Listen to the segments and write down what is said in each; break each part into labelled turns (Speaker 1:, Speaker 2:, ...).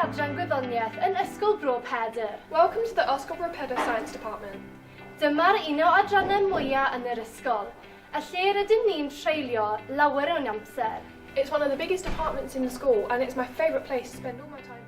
Speaker 1: Adran Gwyddoniaeth yn Ysgol Bro Pedr. Welcome to the Ysgol Bro Pedr Science Department. Dyma'r un o adrannau mwyaf yn yr ysgol, a lle rydym ni'n treulio lawer o'n amser. It's one of the biggest departments in the school and it's my favourite place to spend all my time here.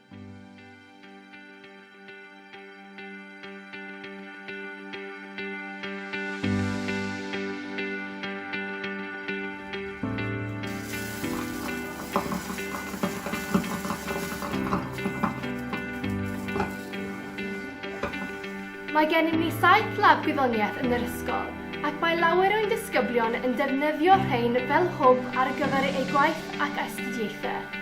Speaker 1: Mae gennym ni saith lab gwyddoniaeth yn yr ysgol ac mae lawer o'n disgyblion yn defnyddio rhain fel hwb ar gyfer eu gwaith ac astudiaethau.